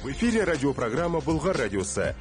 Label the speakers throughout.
Speaker 1: В эфире радиопрограмма «Болгар радиосы».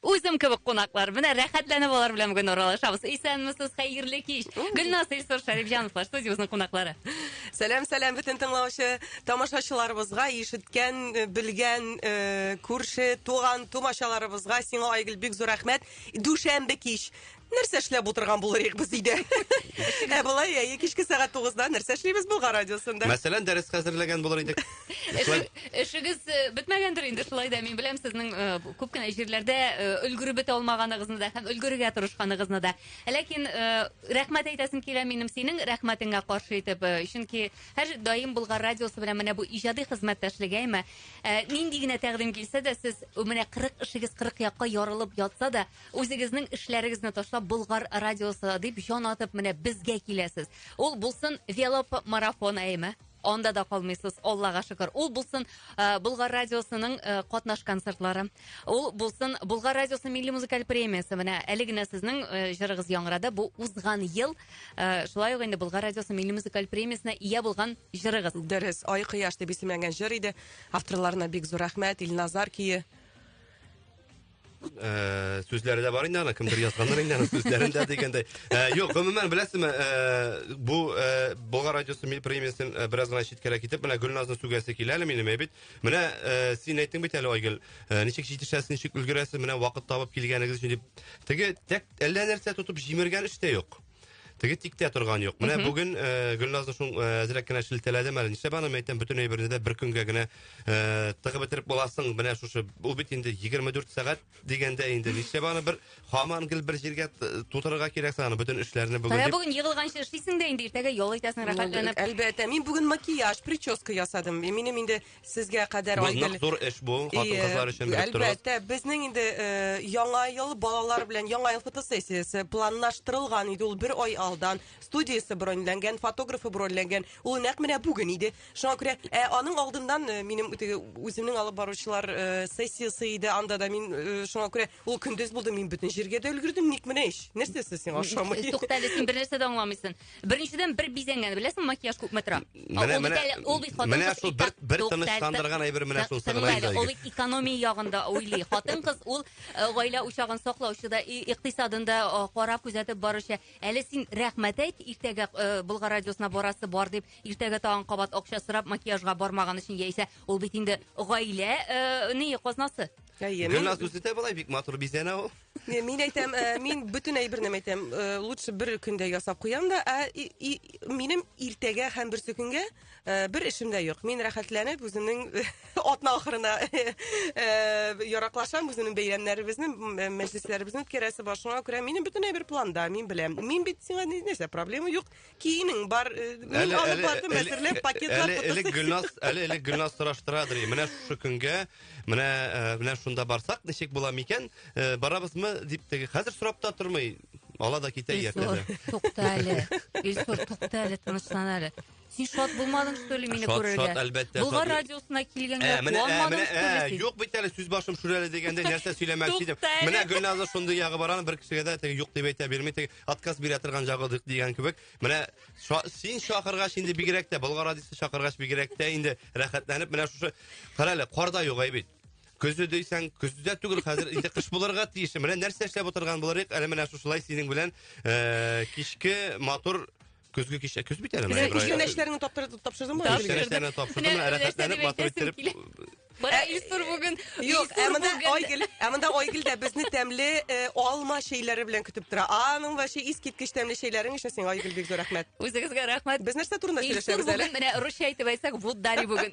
Speaker 1: Үзем кебек кунаклар. Менә рәхәтләнеп алар белән бүген аралашабыз. Исәнмесез, хәерле кич. Гөлназ Илсур Шәрифҗановлар студиябезнең кунаклары. Сәлам, сәлам бөтен тыңлаучы тамашачыларыбызга, ишеткән, э, белгән, э, күрше, туган, тумачаларыбызга. Сиңа, Айгөл, бик зур рәхмәт. Дүшәмбе кич. нәрсә эшләп утырган булыр идек без өйдә. Ә болай әйе кичке сәгать 9-да нәрсә эшлибез Болгар радиосында? Мәсәлән, дәрес хәзерләгән булыр идек. Эшегез э, бетмәгәндер инде шулай да мин беләм сезнең э, күп кенә җирләрдә э, өлгереп бетә алмаганыгызны да һәм өлгерергә тырышканыгызны да. Ләкин рәхмәт әйтәсем килә минем синең рәхмәтеңә каршы итеп, чөнки һәр даим Болгар радиосы белән менә бу иҗади хезмәттәшлегеме, нинди генә тәкъдим килсә дә сез менә 40 эшегез 40 якка ярылып ятса да, Үзегезнең эшләрегезне ташлап Болгар радиосы дип җан атып менә безгә киләсез. Ул булсын веломарафон әйме. Анда да калмыйсыз, Аллага шөкер. Ул булсын э, Болгар радиосының э, катнаш концертлары. Ул булсын Болгар радиосы милли музыкаль премиясе. Менә әле генә сезнең э, җырыгыз яңгырады. Бу узган ел э, шулай ук инде Болгар радиосы милли музыкаль премиясенә ия булган җырыгыз. Дөрес, Ай кояш дип исемләнгән җыр иде. Авторларына бик зур рәхмәт. Илназар кие. Э, сүзләре дә бар инде аны кемдер язганнар инде аны сүзләрендә дигәндәй э, юк гомумән беләсезме э, бу болгар радиосы мил премиясен бераз гына читкәрәк китеп менә гөлназны сүгәсе килә әле минем бит менә син әйттең бит әле айгөл ничек җитешәсез ничек өлгерәсез менә вакыт табып килгәнегез өчен дип теге тәк әллә нәрсә тотып җимергән эш тә юк Теге тиктә торган юк. Менә бүген э, Гөлназны шул э, әзрәк кенә шелтәләдем әле. Нишләп аны мәйтәм бөтен әйберне дә бер көнгә генә э, тыгып бетереп буласың. Менә шушы ул бит инде 24 сәгать дигәндә инде. Нишләп аны бер хаман гел бер җиргә т- тутырырга кирәк саны бөтен эшләрне бүген. Менә дип. бүген егылганчы эшлисең дә инде иртәгә ял итәсең рәхәтләнеп. Әлбәттә, мин бүген макияж, прическа ясадым. И, Минем инде Сезгә кадәр Бу Айгөл. нык зур эш бу, И, хатын-кызлар өчен белеп торыгыз. Әлбәттә, безнең инде э, яңа ел балалар белән яңа ел фотосессиясе планлаштырылган иде ул бер ай алдан. Студиясе броньләнгән, фотографы броньләнгән. Ул нәкъ менә бүген иде. Шуңа күрә ә, аның алдыннан э, минем теге үземнең алып баручылар э, сессиясе иде. Анда да мин э, шуңа күрә ул көндез булды, мин бөтен җиргә дә өлгердем. Ник менә ич? Нәрсәсе сиңа ошамый? Туктале, син бернәрсә дә аңламыйсың. Беренчедән бер бизәнгән, беләсең, макияж күпме тора. Менә, менә, менә шул бер, бер тынычландырган әйбер менә шул сыгылай. Ул экономия ягында уйлый. Хатын кыз ул э, гаилә учагын саклаучы да, икътисадын да э, карап күзәтеп баручы. Әле син рәхмәт әйт, иртәгә э, Болгар радиосына барасы бар дип, иртәгә тагын кабат акча сорап макияжга бармаган өчен яисә ул бит инде гаилә не казнасы. Гөлназ үзе дә былай бик матур бизәнә ул. Ме- Мин әйтәм, э, мин бөтен әйберне әйтәм, э, лучше бер көндә ясап куям да, ә и- и- минем иртәгә һәм берсе көнгә э, бер эшем дә юк. Мин рәхәтләнеп үземнең атна ахырына э, яраклашам, үземнең бәйрәмнәребезне, м- э, мәҗлесләребезне үткәрәсе бар. Шуңа күрә минем бөтен әйбер планда, мин беләм. Мин бит сиңа ни- нәрсә, проблема юк. Киенең бар, э, мин Әле- алып әле- бардым, әле- әзерләп, әле- пакетлар әле- тотып. Элек Гөлназ, әле элек Гөлназ сораштырадыр. и, Менә шушы көнгә, менә э, менә шунда барсак, ничек була микән? Э, Барабызмы дип теге хәзер сорап та тормый. Ала да китә Илсур, ятәдә. тукта әле. Илсур, тукта әле, тынычлан әле. Син шат булмадың, что ли, мине Шат, күрергә? шат, әлбәттә, Болгар шат. радиосына килгәнгә Ә, менә, ә, куанмадың, менә, что ли, ә, син? юк бит әле сүз башым шүрәле дигәндә нәрсә сөйләмәкче идем. Тукта әле. Менә Гөлназның шундый ягы бар аны бер кешегә дә теге юк дип әйтә бирми. Теге отказ бирә торган чагы ди- дигән кебек. Менә ша- син чакыргач инде бигрәк тә, Болгар радиосы чакыргач бигрәк тә инде рәхәтләнеп менә шушы кара әле, кар да юк, әй бит. Көзе дисәң, көз дә түгел, хәзер инде кыш булырга тиеш. Менә нәрсә эшләп утырган булырыйк, әле менә шушылай синең белән э, кичке матур Көзге кичә көз бит әле. Менә Кичә нәчләреңне таптырды- тапшырдыңмы? Тапшырдым. Кичә нәчләрне тапшырдым, Менә менә рәхәтләнеп, нәрсәне матур әйтәсем иттереп. килә. Бара Илсур бүген. Юк, ә Илсур монда бүген. Айгөл, ә монда Айгөл дә безне тәмле э, алма чәйләре белән көтеп тора. Аның вообще искиткеч тәмле чәйләрең өчен сиңа Айгөл бик зур рәхмәт. Үзегезгә рәхмәт. Без нәрсә турында Илсур сөйләшәбез әле? бүген менә русча әйтеп әйтсәк, вот дари бүген.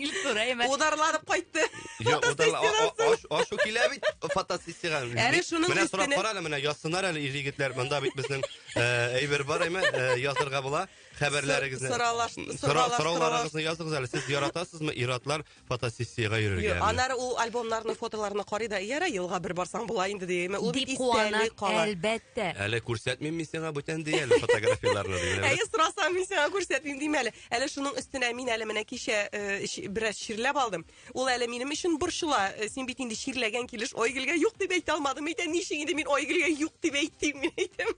Speaker 1: Илсур, әйме. Ударланып кайтты. Йо, удала- а- а- Фотосессиядан аш- Ашу килә бит фотосессиягә. Әле шуның Менә сорап өстенә- кара әле, менә язсыннар әле ир-егетләр. Монда бит безнең Э, әйбер бар әйме, э, язырга була. Хәбәрләрегезне. Соралаш- Сора- соралаш- Сорауларыгызны языгыз әле. Сез яратасызмы ир-атлар фотосессиягә Йо, йөрергә? Аннары ул альбомнарны, фотоларны карый да, яра елга бер барсаң була инде дигәйме. Ул бит Дип куана, истәли кала. әлбәттә. Әле күрсәтмим мин сиңа бүтән ди әле фотографияләрне дигән. Әйе, сорасам мин сиңа күрсәтмим дим әле. Әле шуның өстенә мин әле менә кичә э, чи- бераз чирләп алдым. Ул әле минем өчен борчыла. Э, син бит инде чирләгән килеш Айгөлгә юк дип әйтә алмадым. Әйтә ничек инде мин Айгөлгә юк дип әйтим мин әйтәм.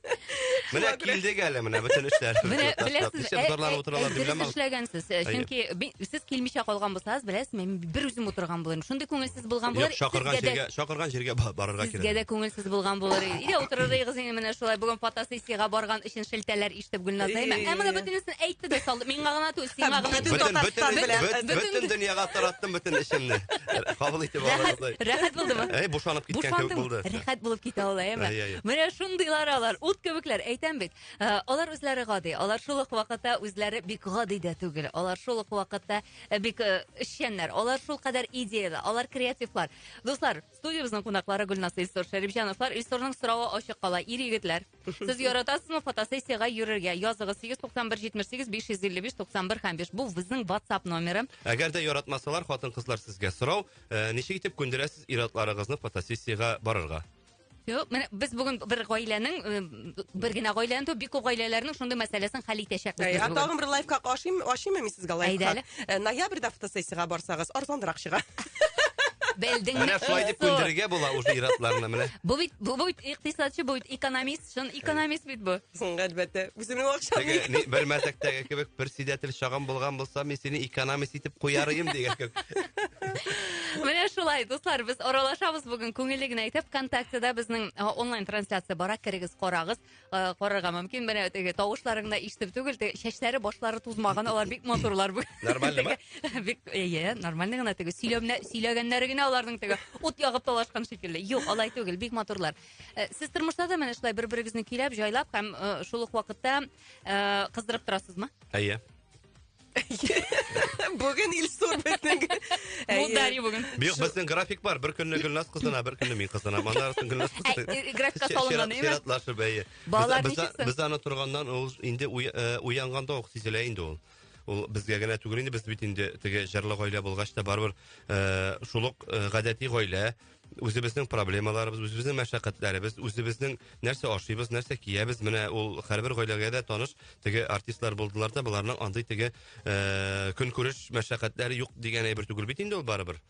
Speaker 1: Менә килдек әле менә бөтен эшләр. Менә беләсез, ә, ә, дөрес эшләгәнсез. Э, чөнки сез килмичә калган булсагыз, беләсез, мин бер үзем утырган булырмын. Шундый күңелсез булган булыр. Чакырган җиргә, чакырган җиргә барырга кирәк. Сезгә дә күңелсез булган булыр. Иде утырыр идегез инде менә шулай. Бүген фотосессиягә барган өчен шелтәләр Дип Гөлназа әйме? Ә моны бөтенесен әйтте дә салды. Миңа гына түгел, сиңа гына Бөтен, түгел. бөтен, бөтен, бөтен, бөтен дөньяга тараттым бөтен эшемне. Кабул итеп Рәхәт, алыгыз. рәхәт булдымы? Әй, бушанып киткән кебек Бушандым. булды. Рәхәт булып китә ул, әйеме? Әй, әй. Менә шундыйлар алар, ут кебекләр, әйтәм бит. Ә, Алар үзләре гади, алар шул ук вакытта үзләре бик гади дә түгел. Алар шул ук вакытта э, бик э, эшчәннәр, алар шул кадәр идеяле, алар креативлар. Дуслар, Студиябезнең кунаклары Гөлназ Илсур Шәрипҗановлар. Илсурның сорауы ачык кала. Ир егетләр, сез яратасызмы фотосессиягә йөрергә? Языгыз 891 78 555 91 һәм 5. Бу безнең WhatsApp номеры. Әгәр дә яратмасалар, хатын-кызлар сезгә сорау, э, ничек итеп күндерәсез ир-атларыгызны фотосессиягә барырга? Юк, менә без бүген бер гаиләнең э, бер генә гаиләне түгел, бик күп гаиләләрнең шундый мәсьәләсен хәл итәчәкбез. Ә, тагын бер лайфхак ашыйм, ашыймы мин сезгә лайфхак? Э, ноябрьдә фотосессиягә барсагыз, арзанрак чыга. Белдеңме? Менә шулай дип күндерергә була уже иратларны менә. Бу бит бу бит икътисадчы, бу бит экономист, чын экономист бит бу. Соң әлбәттә, үземнең акчам. Теге бер мәзәктәге кебек председатель чагым булган булса, мин сине экономист итеп куяр идем дигән кебек. Менә шулай, дуслар, без аралашабыз бүген күңелле генә итеп. ВКонтактеда безнең онлайн трансляция бара, керегез, карагыз. Карарга мөмкин. Менә теге тавышларың да ишетеп түгел, чәчләре, башлары тузмаган, алар бик матурлар бүген. Нормальныймы? Бик, әйе, нормальный гына теге. Сөйләмнә, сөйләгәннәре генә аларның теге ут ягып талашкан шикелле. Юк, алай түгел, бик матурлар. Э, сез тормышта да менә шулай бер-берегезне көйләп, җайлап һәм э, шул ук вакытта э, кыздырып торасызмы? Әйе. Бүген Илсур безнең. Бу Дарья бүген. Бик безнең график бар. Бер көнне Гөлназ кызына, бер көнне мин кызына. Моннан соң Гөлназ кызы. Э, графикка салынган, әйеме? Чиратлашып, әйе. Балалар ничексен? Без аны торганнан ул инде э, уянганда ук сизелә инде ул ул безгә генә түгел инде без бит инде теге җырлы гаилә булгач та барыбер э, шул ук э, гадәти гаилә үзебезнең проблемаларыбыз, үзебезнең мәшәкатьләребез, үзебезнең нәрсә ашыйбыз, нәрсә киябез, менә ул һәрбер гаиләгә дә таныш, теге артистлар булдылар да, боларның андый теге э, көнкүреш мәшәкатьләре юк дигән әйбер түгел бит инде ул барыбер.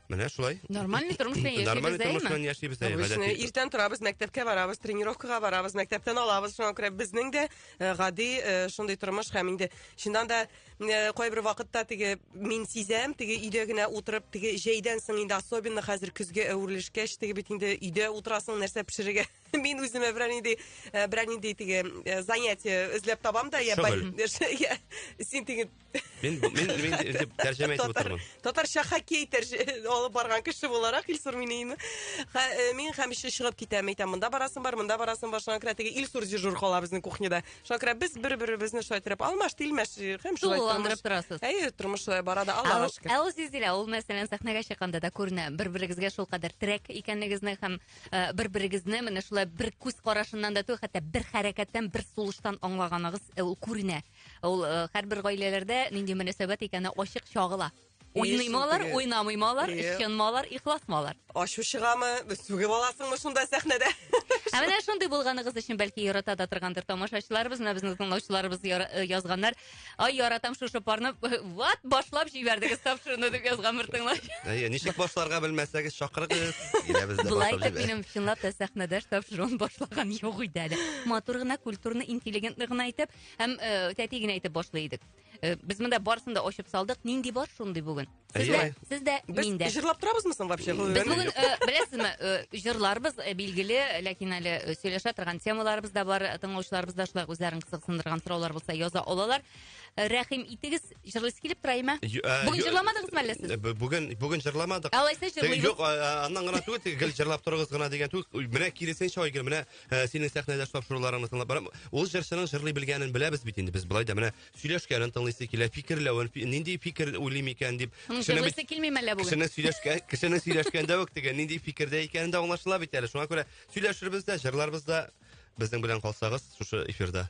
Speaker 1: Менә шулай. Нормальный тормыш белән яшибез, Нормальный тормыш белән яшибез. Обычно иртән торабыз, мәктәпкә барабыз, тренировкага барабыз, мәктәптән алабыз, шуңа күрә безнең дә э, гади э, шундый тормыш һәм инде чыннан да Э, кайбер вакытта теге мин сизәм теге өйдә генә утырып теге җәйдән соң инде особенно хәзер көзгә әверелешкәч теге бит инде өйдә утырасың нәрсә пешерергә мин үземә берәр нинди э, берәр нинди теге э, занятие эзләп табам да я син теге мин мин мин дип тәрҗемә итеп утырмын татарча хоккей алып барган кеше буларак илсур минеимин мин һәм чыгып китәм әйтәм монда барасың бар монда барасың бар шуңа күрә теге илсур дежур кала безнең кухняда Шакира, без бер-беребезне шулай иттереп алмаш, тилмәш һәм шулай Тулы тормыш. алмаштырасыз. Әйе, тормыш шулай бара да, Ә Аллага ул- шөкер. Ә ул Зилзилә, ул мәсәлән сәхнәгә чыкканда да күренә. Бер-берегезгә шул кадәр терәк икәнлегезне һәм э, бер-берегезне менә шулай бер күз карашыннан да түгел, хәтта бер хәрәкәттән, бер сулыштан аңлаганыгыз э, ул күренә. Ул э, һәрбер гаиләләрдә нинди мөнәсәбәт икәне ачык чагыла. Уйныймы алар, уйнамыймы алар, ышанмы алар, ихласмы алар? Ачу чыгамы, сүгеп аласыңмы шунда сәхнәдә? Ә менә шундый булганыгыз өчен бәлки ярата да торгандыр тамашачыларыбыз, менә безнең тыңлаучыларыбыз э, язганнар. Ай, яратам шушы парны. Вот, башлап җибәрдегез тап шуны дип язган бер тыңлач. Әйе, ничек башларга белмәсәгез, чакырыгыз. Булай итеп минем чынлап та сәхнәдә штаб шуны башлаган юк иде әле. Матур гына, культурный, интеллигентный гына итеп һәм э, тәти генә итеп башлый идек. Э, без монда барысын да ачып салдык. Нинди бар шундый бүген? Сездә, сездә, миндә. Без җырлап торабызмы соң вообще? Без бүген, э, беләсезме, э, җырларыбыз билгеле, ләкин әле сөйләшә торган темаларыбыз да бар, тыңлаучыларыбыз да шулай үзләрен кызыксындырган сораулар булса яза алалар. Рәхим итегез, җырлыйсы килеп тора име? Бүген җырламадыгызмы әллә сез? Бүген бүген җырламадык. Алайса җырлыйбыз. Юк, аннан гына түгел, гел җырлап торыгыз гына дигән түгел. Менә киресенчә, Айгөл, менә ә, синең сәхнәдәш тапшыруларыңны тыңлап барам. Ул җырчының җырлый белгәнен беләбез бит инде без болай да менә сөйләшкәнен тыңлыйсы килә, фикерләвен, фи- нинди фикер уйлыйм икән дип. Кешене бит- Җырлыйсы килмиме әллә бүген? Кешене сөйләшкә, кешене сөйләшкәндә үк теге нинди фикердә икәнен дә аңлашыла бит әле. Шуңа күрә сөйләшербез дә, җырларбыз да. Безнең белән калсагыз шушы эфирда.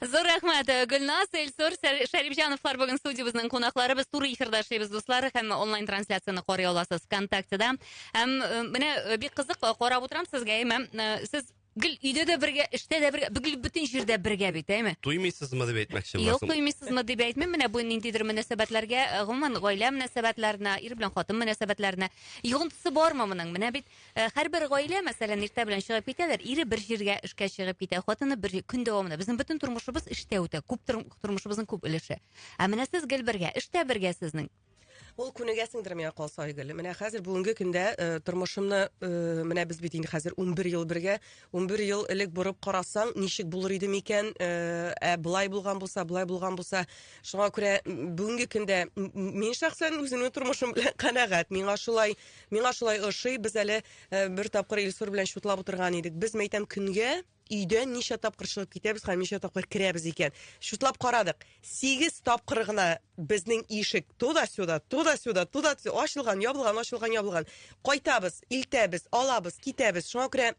Speaker 1: Зур рәхмәт, э, Гөлназ, Эльсур, Сәр- Шәрипҗановлар бүген студиябезнең кунаклары. Без туры эфирда эшлибез, дуслар, һәм онлайн трансляцияне карый аласыз ВКонтактеда. Һәм э, менә э, бик кызык э, карап утырам сезгә, әйме? Э, Сез гел өйдә дә бергә, эштә дә бергә, гел бөтен җирдә бергә бит, әйме? Туймыйсызмы дип әйтмәкче Юк, буласың. туймыйсызмы дип әйтмим, менә бу ниндидер мөнәсәбәтләргә, э, гомумән, гаилә мөнәсәбәтләренә, ир белән хатын мөнәсәбәтләренә йогынтысы бармы моның? Менә бит Э, һәрбер гаилә мәсәлән иртә белән чыгып китәләр ире бер җиргә эшкә чыгып китә хатыны бер көн дәвамында безнең бөтен тормышыбыз эштә үтә күп тормышыбызның күп өлеше ә менә сез гел бергә эштә бергә сезнең ул күнегәсеңдер миңа калса айгөл менә хәзер бүгенге көндә э, тормышымны э, менә без бит инде хәзер унбер ел бергә унбер ел элек борып карасаң ничек булыр иде микән э, ә былай булган булса былай булган булса шуңа күрә бүгенге көндә мин шәхсән үземнең тормышым белән канәгать миңа шулай Миңа шулай ошый. Без әле э, бер тапкыр Илсур белән чутлап утырган идек. Без мәйтәм көнгә өйдән ничә тапкыр чыгып китәбез һәм ничә тапкыр керәбез икән. Чутлап карадык. 8 тапкыр гына безнең ишек туда-сюда, туда-сюда, туда ачылган, ябылган, ачылган, ябылган. Кайтабыз, илтәбез, алабыз, китәбез. Шуңа күрә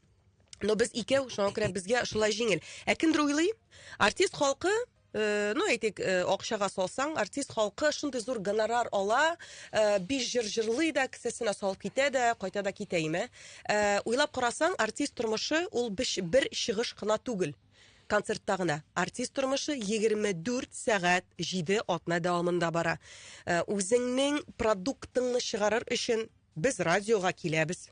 Speaker 1: но без икәү, шуңа күрә безгә шулай җиңел. Ә кемдер уйлый, артист халкы Э, ну әйтик э, акчага салсаң артист халкы шундый зур гонорар ала э, биш җыр җырлый да кесәсенә салып китә дә кайта да китә име уйлап карасаң артист тормышы ул бер чыгыш кына түгел концертта гына артист тормышы 24 сәгать 7 атна дәвамында бара үзеңнең продуктыңны чыгарыр өчен без радиога киләбез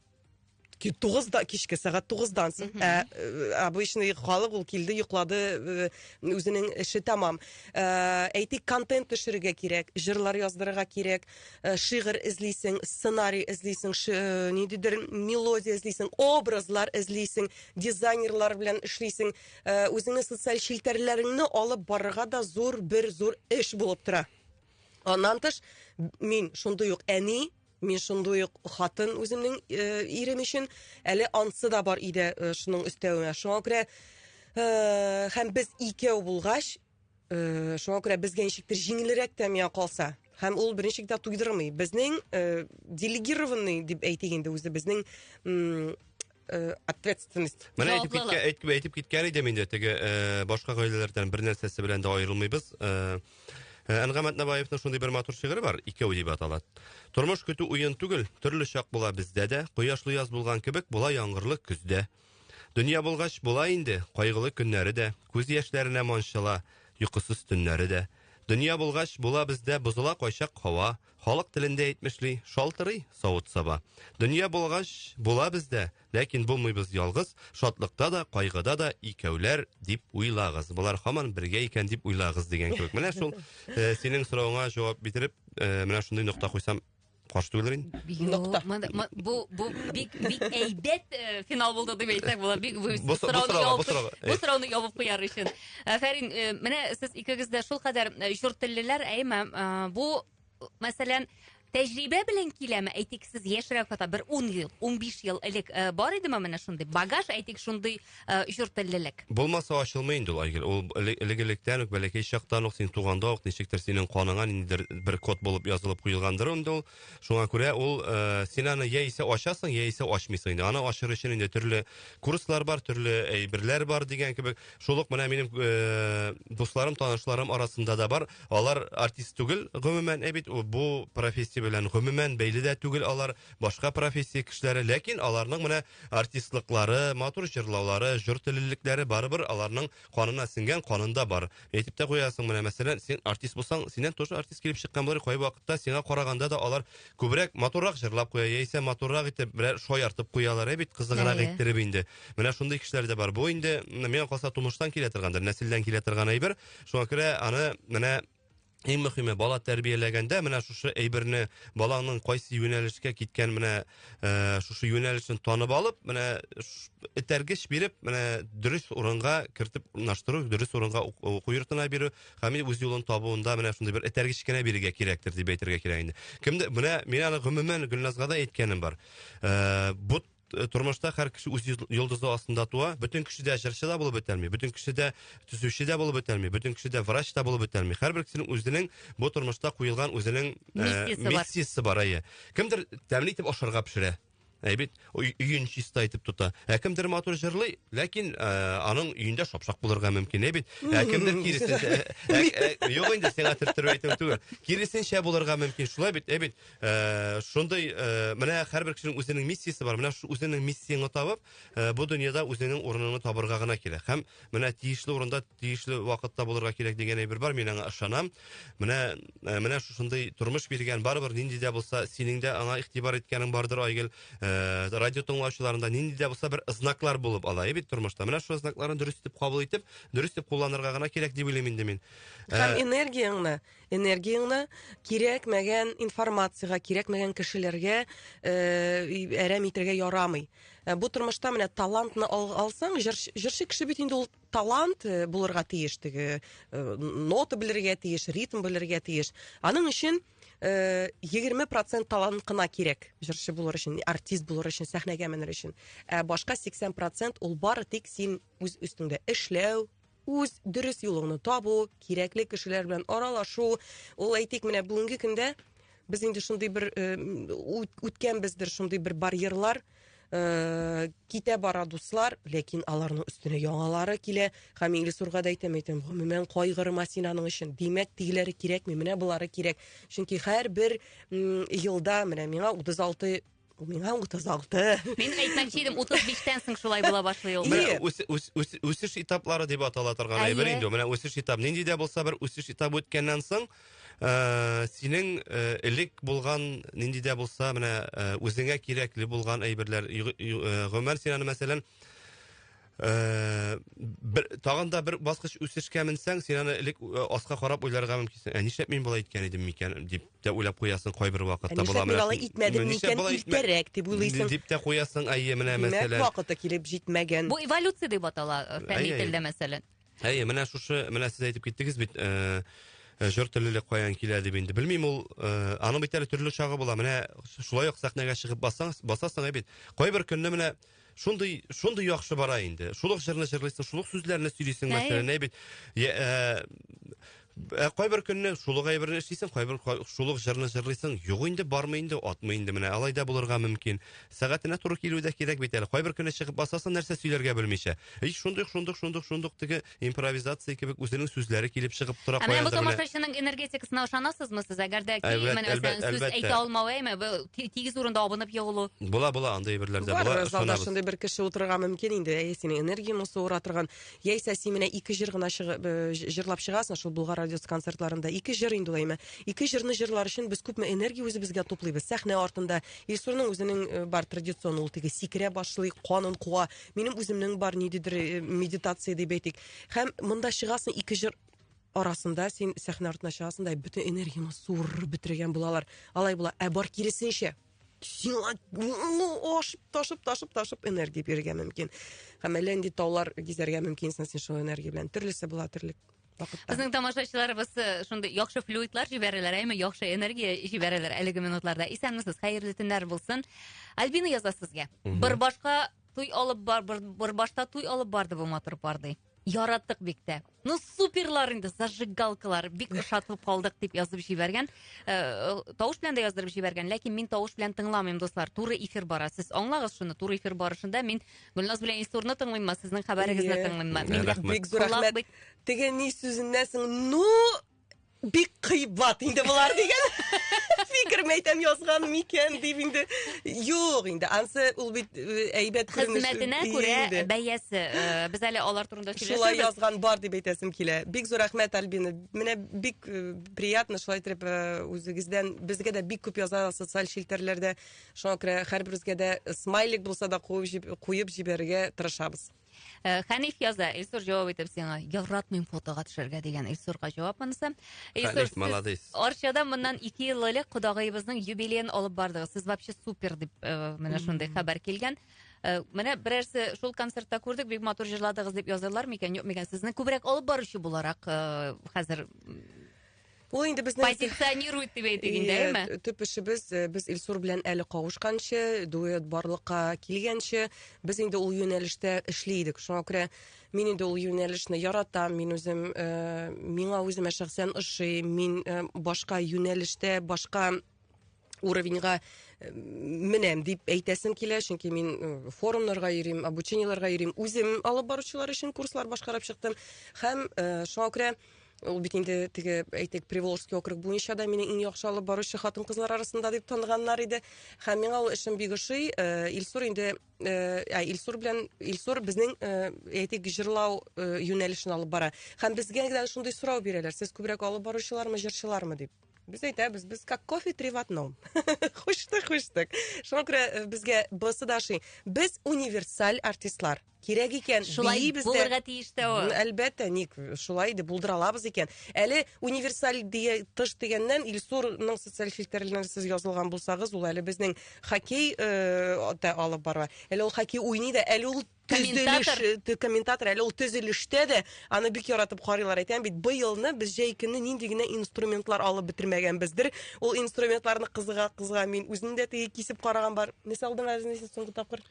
Speaker 1: тугызда кичке сәгать тугыздан соң ә, э, обычный халык ул килде йоклады э, үзенең эше тәмам ә, э, әйтик контент төшерергә кирәк җырлар яздырырга кирәк ә, шигырь эзлисең сценарий эзлисең ә, ниндидер мелодия эзлисең образлар эзлисең дизайнерлар белән эшлисең ә, үзеңне социаль челтәрләреңне алып барырга да зур бер зур эш булып тора аннан тыш мин шундый ук әни Мин шундый ук хатын үземнең э, ирем өчен әле ансы да бар иде э, шуның өстәвенә. Шуңа күрә э, һәм без икәү булгач, э, шуңа күрә безгә ничектер җиңелрәк тә миңа калса. Һәм ул беренче китап туйдырмый. Безнең э, делегированный дип әйтик инде үзебезнең м, э, ответственность. Менә әйтеп киткән әйтеп, әйтеп киткән идем инде теге э, башка гаиләләрдән бер нәрсәсе белән дә аерылмыйбыз. Э, э Әнгам Атнабаевның шундый бер матур шигыре бар, икәү дип атала. Тормыш көтү уен түгел, төрле чак була бездә дә, кояшлы яз булган кебек була яңгырлы көздә. Дөнья булгач була инде, кайгылы көннәре дә, күз яшьләренә манчыла, йокысыз төннәре дә. Дөнья булгач була бездә бозыла кайчак һава, Халык телендә әйтмешли, шалтырый савыт-саба. Дөнья булгач, була бездә, ләкин булмыйбыз ялгыз, шатлыкта да, кайгыда да икәүләр дип уйлагыз. Болар хаман бергә икән дип уйлагыз дигән кебек. Менә шул э, синең сорауыңа җавап бетереп, э, менә шундый нокта куйсам каршы түгелер инде. Юк, мында- ма- бу бу бик бик әйбәт э, финал булды дип әйтсәк була. Бик бу Бу со- бу сорауны сорауга, бу ябып сорауга. бу сорауны ябып куяр өчен. Афәрин, э, менә сез икегез дә шул кадәр э, чур теллеләр, әйме, э, бу, мәсәлән, тәҗрибә белән киләме? Әйтик, сез яшьрәк хата бер 10 ел, 15 ел элек бар идеме менә шундый багаж, әйтик, шундый чур теллелек? Булмаса ачылмый инде ул, Айгөл. Ул элек-электән үк, бәләкәй чактан ук, син туганда ук, ничектер синең каныңа ниндидер бер код булып язылып куелгандыр инде ул. Шуңа күрә ул э, син аны яисә ачасың, яисә ачмыйсың инде. Аны ачыр өчен инде төрле курслар бар, төрле әйберләр бар дигән кебек. Шул ук менә минем э, дусларым, танышларым арасында да бар. Алар артист түгел, гомумән, ә бит бу профессия белән гомумән бәйле дә түгел алар, башка профессия кешеләре, ләкин аларның менә артистлыклары, матур җырлаулары, җор теллелекләре барыбер аларның канына сингән, канында бар. әйтеп тә куясың менә мәсәлән син артист булсаң синнән тоже артист килеп чыккан булыр кай вакытта сиңа караганда да алар күбрәк матуррак җырлап куя яисә матуррак итеп берәр шаяртып куялар ә бит кызыграк Әйе. иттереп инде менә шундый кешеләр дә бар бу инде менә миңа калса тумыштан килә торгандыр нәселдән килә торган әйбер шуңа күрә аны менә Иң мөхиме бала тәрбияләгәндә менә шушы әйберне баланың кайсы юнәлешкә киткән менә э, шушы юнәлешен танып алып, менә этәргеч биреп, менә дөрес урынга кертеп урнаштыру, дөрес урынга уку йортына бирү, һәм үз юлын табуында менә шундый бер этәргеч кенә бирергә кирәктер дип әйтергә кирәк инде. Кемдә менә мин аны гомумән Гөлназга да әйткәнем бар. Э, бу э, тормышта һәр кеше үз йолдызы астында туа. Бөтен кеше дә җырчы да булып бетәлми, бөтен кеше дә төзүче дә булып бетәлми, бөтен кеше дә врач та булып бетәлми. Һәрбер кешенең үзенең бу тормышта куелган үзенең э, миссиясе бар. Әйе. Кемдер тәмле итеп ашарга пешерә. Әй бит, өен чиста итеп тота. Ә кемдер матур җырлый, ләкин э, аның өендә шапшак булырга мөмкин, әй бит. Ә кемдер киресенчә, э, э, юк инде сиңа төрттереп әйтүем түгел. Киресенчә булырга мөмкин, шулай бит, әй бит. Ә, шундый, ә, менә һәрбер кешенең үзенең миссиясе бар. Менә шу үзенең миссияңны табып, ә, бу дөньяда үзенең урыныңны табырга гына кирәк. Һәм менә тиешле урында, тиешле вакытта булырга кирәк дигән әйбер бар, мин аңа ышанам. Менә, ә, менә шушындый тормыш биргән, барыбер нинди дә булса, синең дә аңа игътибар иткәнең бардыр, Айгөл. Ә, радио тыңлаучыларның да нинди дә булса бер знаклар булып ала, ә бит тормышта. Менә шул знакларны дөрес итеп кабул итеп, дөрес итеп кулланырга гына кирәк дип уйлыйм инде мин. Һәм энергияңне энергияңне кирәкмәгән информациягә, кирәкмәгән кешеләргә э, әрәм итергә ярамый. Э, бу тормышта менә талантны алсаң, җырчы кеше бит инде ул талант э, булырга тиеш, теге нота белергә тиеш, ритм белергә тиеш. Аның өчен 20% талант кына кирәк җырчы булыр өчен, артист булыр өчен, сәхнәгә менер өчен. Ә башка 80% ул бары тик син үз өстеңдә эшләү, үз дөрес юлыңны табу, кирәкле кешеләр белән аралашу, ул әйтик менә бүгенге көндә без инде шундый бер э, үткәнбездер шундый бер барьерлар э, китә бара дуслар, ләкин аларның өстенә яңалары килә. Һәм инглиз урга да әйтәм, әйтәм, гомумән кайгырма син аның өчен. Димәк, тигеләре кирәкми, менә болары кирәк. Чөнки һәрбер елда менә миңа 36 Бу миңа 36. Мин әйтмәкче идем, 35-тән соң шулай була башлый ул. Менә үс, үс, үс, үсеш этаплары дип атала торган әйбер инде. Менә үсеш этап. Нинди дә булса бер үсеш этап үткәннән соң, э, синең э, элек булган нинди дә булса менә э, үзеңә кирәкле булган әйберләр. Гомәр син аны мәсәлән Э, бер тагын да бер баскыч үсешкә менсәң син аны элек э, аска карап уйларга мөмкинсең ә нишләп мин болай иткән идем микән дип тә уйлап куясың кайбер вакытта ә нишләп мин алай итмәдем микән иртәрәк дип уйлыйсың дип тә куясың әйе менә мәсәлән димәк вакыты килеп җитмәгән бу эволюция дип атала э, фәнни телдә мәсәлән әйе менә шушы менә сез әйтеп киттегез бит җыр теллелек каян килә дип инде белмим ул аның бит әле төрле чагы була менә шулай ук сәхнәгә чыгып басасың бит кайбер көнне менә Шундый, шундый яхшы бара инде. Шул ук җырны җырлыйсың, шул ук сүзләрне сөйлисең, мәсәлән, әй бит. Я, ә, ә, кайбер көнне шул ук әйберне эшлисең, кайбер ка- шул ук җырны җырлыйсың. Юк инде, бармый инде, атмый инде менә. Алай да булырга мөмкин. Сәгатенә туры килү дә кирәк бит әле. Кайбер көнне чыгып басасың, нәрсә сөйләргә белмичә. И, шундый, шундый, шундый, шундый теге импровизация кебек үзенең сүзләре килеп чыгып тора. Ә менә бу тамашачының энергетикасына ышанасызмы сез? Әгәр дә килмәне мәсәлән сүз әйтә алмавы, әйме, тигез урында абынып егылу. Була, була, андый әйберләр дә була. Залда шундый бер кеше утырырга мөмкин инде. Әйе, синең энергияң осы ура торган. Яисә син менә ике җыр гына чыгып э, җырлап чыгасың шул Булгар радиосы концертларында. Ике җыр инде әйме. Ике җырны җырлар өчен без күпме энергия үзебезгә туплыйбыз. Сәхнә артында Илсурның үзенең э, бар традицион ул теге сикерә башлый, канын куа. Минем үземнең бар ниндидер э, медитация дип әйтик. Һәм монда чыгасың ике җыр арасында син сәхнә артына чыгасың да бөтен энергияңне суырып бетергән булалар. Алай була. Ә бар киресенчә, сиңа ну ашып ташып ташып ташып энергия бирергә мөмкин һәм әллә нинди таулар гизәргә мөмкинсең син шул энергия белән төрлесе була терлек Безнең тамашачыларыбыз э, шундый яхшы флюидлар җибәрәләр, әйме яхшы энергия җибәрәләр әлеге минутларда. Исәнмесез, хәерле төннәр булсын. Альбина яза сезгә. Бер башка туй алып бар, бер, бер башта туй алып барды бу матур пар ди. Яраттык бик тә. Ну суперлар инде, зажигалкалар. Бик ошатылып калдык дип язып җибәргән. Э, Тавыш белән дә яздырып җибәргән, ләкин мин тавыш белән тыңламыйм, дуслар. Туры эфир бара. Сез аңлагыз шуны, туры эфир барышында мин Гөлназ белән Илсурны тыңлыйммы? Сезнең хәбәрегезне Әйе. тыңлыйммы? Мин Рәхмәт. бик зур Колак рәхмәт. бит- Теге ни сүзеннән соң, ну, бик кыйбат инде болар дигән. Фикер мәйтәм язган микән дип инде. Юк инде, ансы ул бит э, әйбәт күренеш. Хезмәтенә Ие күрә инде. бәясе. Э, Без әле алар турында Шулай сөйләшербез. язган бар дип әйтәсем килә. Бик зур рәхмәт, Альбина. Менә бик э, приятно шулай итеп э, үзегездән безгә дә бик күп яза социаль челтәрләрдә Шуңа күрә һәрберебезгә дә смайлик булса да куеп җибәрергә тырышабыз. Э, Хәниф яза, Илсур җавап итеп сиңа, яратмыйм фотога төшәргә дигән Илсурга җавап монысы. Хәниф, молодец. Арчада моннан ике ел элек кодагыебызның юбилеен алып бардыгыз. Сез вообще супер дип э, менә шундый хәбәр килгән. Э, менә берәрсе шул концертта күрдек, бик матур җырладыгыз дип язалар микән, юк микән? Сезне күбрәк алып баручы буларак хәзер Ул инде безнең позиционирует дип әйтик инде, әйме? Төп эшебез э, без Илсур белән әле кавышканчы, дуэт барлыкка килгәнче, без инде ул юнәлештә эшли идек. Шуңа күрә мин инде ул юнәлешне яратам, мин үзем э, миңа үземә шәхсән ошый, мин э, башка юнәлештә, башка уровеньга э, менәм дип әйтәсем килә, чөнки мин э, форумнарга йөрим, обучениеләргә йөрим, үзем алып баручылар өчен курслар башкарып чыктым һәм э, шуңа күрә ул бит инде теге әйтик Приволжский округ буенча да мине иң яхшы алып баручы хатын-кызлар арасында дип таныганнар иде. Һәм миңа ул эшем бик ошый. Илсур инде ә Илсур белән Илсур безнең әйтик җырлау юнәлешен алып бара. Һәм безгә генә шундый сорау бирәләр. Сез күбрәк алып баручылармы, җырчылармы дип. Без әйтәбез, без как кофе три в одном. Хуштык, хуштык. Шуңа күрә э, безгә бысы да шый. Без универсаль артистлар. Кирәк икән, шулай бейбез дә. Булырга тиеш тә ул. Әлбәттә, ник шулай дип булдыра алабыз икән. Әле универсаль дия тыш дигәннән Илсурның социаль фильтрларына сез язылган булсагыз, ул әле безнең хоккей э, да алып бара. Әле ул хоккей уйный да, әле ул Комментатор. Комментатор әле ул төзелештә дә аны бик яратып карыйлар. Әйтәм бит, быелны без җәй көне нинди генә инструментлар алып бетермәгәнбездер. Ул инструментларны кызыга кызга мин үзем дә теге кисеп караган бар. Не салдың әзен исә соңгы тапкыр?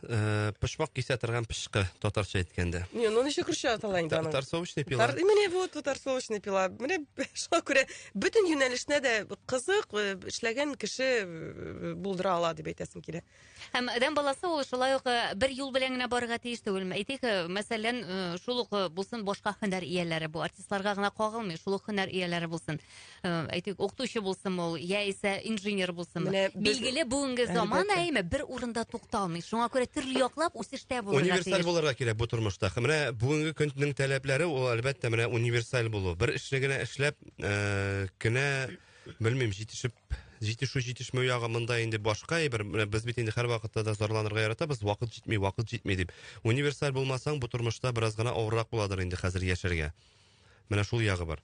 Speaker 1: Э, пышмак кисә торган пышкы, татарча әйткәндә. Не, ну ничек русча атала инде аның? Тарсовочный пила. Менә вот тарсовочный пила. Менә шуңа күрә бөтен юнәлешне дә кызык э, эшләгән кеше э, булдыра ала дип әйтәсем килә. Һәм адәм баласы ул шулай ук э, бер юл белән генә барырга тиеш түгел. Әйтик, э, мәсәлән, э, шул ук булсын башка һөнәр ияләре. Бу артистларга гына кагылмый, шул ук һөнәр ияләре булсын. Әйтик, укытучы булсын ул, яисә инженер булсын. Билгеле, бүгенге заман әйме бер урында тукталмый. Шуңа күрә төрле яклап үсештә булырга тиеш. Универсаль булырга кирәк бу тормышта. Менә бүгенге көннең таләпләре ул әлбәттә менә универсаль булу. Бер эшне генә эшләп, кенә Белмим, җитешеп, җитешү җитешмәү ягы монда инде башка әйбер. Без бит инде һәрвакытта да зарланырга яратабыз, вакыт җитми, вакыт җитми дип. Универсаль булмасаң, бу тормышта бераз гына авыррак буладыр инде хәзер яшәргә. Менә шул ягы бар.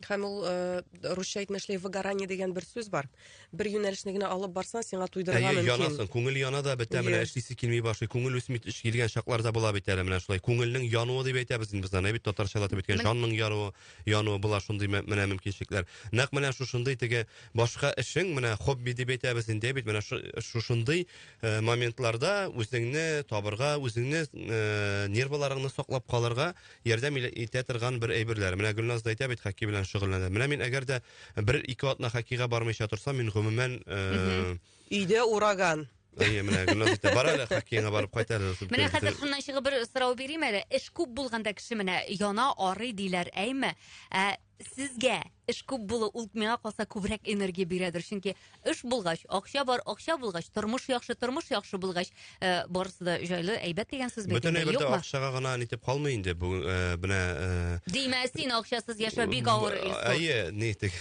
Speaker 1: Һәм ул э, русча әйтмә эшләй выгорание дигән бер сүз бар. Бер юнәлешне генә алып барсаң, сиңа туйдырырга Әйе, мөмкин. янасың, күңел яна да бетә, менә Иә. эшлисе килми башлый, күңел үсми төш килгән чакларда була бит әле менә шулай. Күңелнең януы дип әйтәбез инде без аны, ә бит татарчалатып әйткән Мен- җанның яруы. януы була шундый менә мөмкинчелекләр. Нәкъ менә шушындый теге башка эшең, менә хобби дип әйтәбез инде бит, менә шушындый э, моментларда үзеңне табырга, үзеңне э, нервларыңны саклап калырга ярдәм итә торган бер әйберләр. Менә Гөлназ да әйтә бит, хоккей белән шөгыльләнә. Менә мин әгәр дә бер ике атна хоккейга бармыйча торсам, мин гомумән э, Өйдә ураган. Әйе, менә Гөлназ әйтә, бар әле хоккейга барып кайт әле. дип Менә көлеп хәзер китә. шуннан чыгып бер сорау бирим әле. Эш күп булганда кеше менә яна, арый диләр, әйме? Ә сезгә эш күп булу ул миңа калса күбрәк энергия бирәдер. Чөнки эш булгач, акча бар, акча булгач, тормыш яхшы, тормыш яхшы булгач, э, барысы да җайлы, әйбәт дигән сүз бит Бөтен инде, әйбер дә юкмы? акчага гына нитеп калмый инде. Бүген э, менә э, Димә, син акчасыз яшәү бик авыр, Илсур. Әйе, нитек.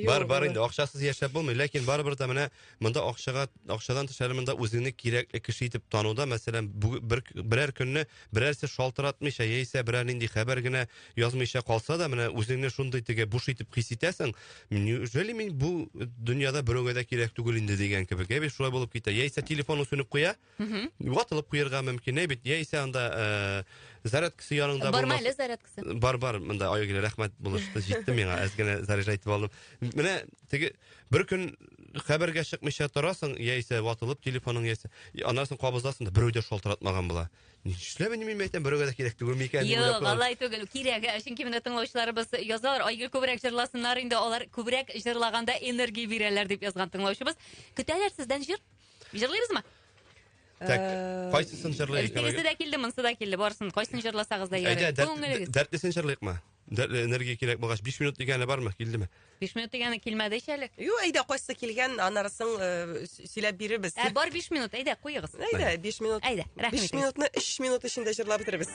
Speaker 1: Бар, бар инде, акчасыз яшәп булмый, ләкин барыбер дә менә монда акчага, акчадан тыш әле монда үзеңне кирәкле кеше итеп тануда, мәсәлән, бер, берәр көнне берәрсе шалтыратмыйча, яисә берәр нинди хәбәр генә язмыйча калса да, менә үзеңне шундый теге буш итеп хис итәсең, неужели мин бу дөньяда берәүгә дә кирәк түгел инде дигән кебек, әби шулай булып китә. Яисә телефоны сүнеп куя, Мгм. Ватылып куярга мөмкин, әй бит, яисә анда э, зарядкасы яныңда Барма булмас- әле зарядкасы. Бар, бар, монда Айгөл, рәхмәт булышты, җитте миңа, әз генә заряжа итеп алдым. Менә теге бер көн хәбәргә чыкмыйча торасың, яисә ватылып телефоның, яисә и, аннан соң кабызасың да берәү дә шалтыратмаган була. Нишләп инде мин әйтәм, берәүгә дә кирәк түгел микән? дип уйлап Юк, калам. алай түгел, кирәк. Ә, Чөнки менә тыңлаучыларыбыз язалар, Айгөл күбрәк җырласыннар инде, алар күбрәк җырлаганда энергия бирәләр дип язган тыңлаучыбыз. Көтәләр сездән җыр. Җырлыйбызмы? Так, э, кайсысын җырлыйк? Тегесе дә килде, монсы да килде. Барысын кайсын җырласагыз да ярый. Күңелегез. Дәртлесен җырлыйкмы? Дәртле энергия кирәк булгач 5 минут дигәне бармы? Килдеме? 5 минут дигәне килмәде ич әле. Юк, әйдә, кайсы килгән, анарысын э, сөйләп бирербез. Ә бар 5 минут, әйдә, куегыз. Әйдә, 5 минут. Әйдә, рәхмәт. 5 минутны 3 минут эчендә җырлап бетеребез.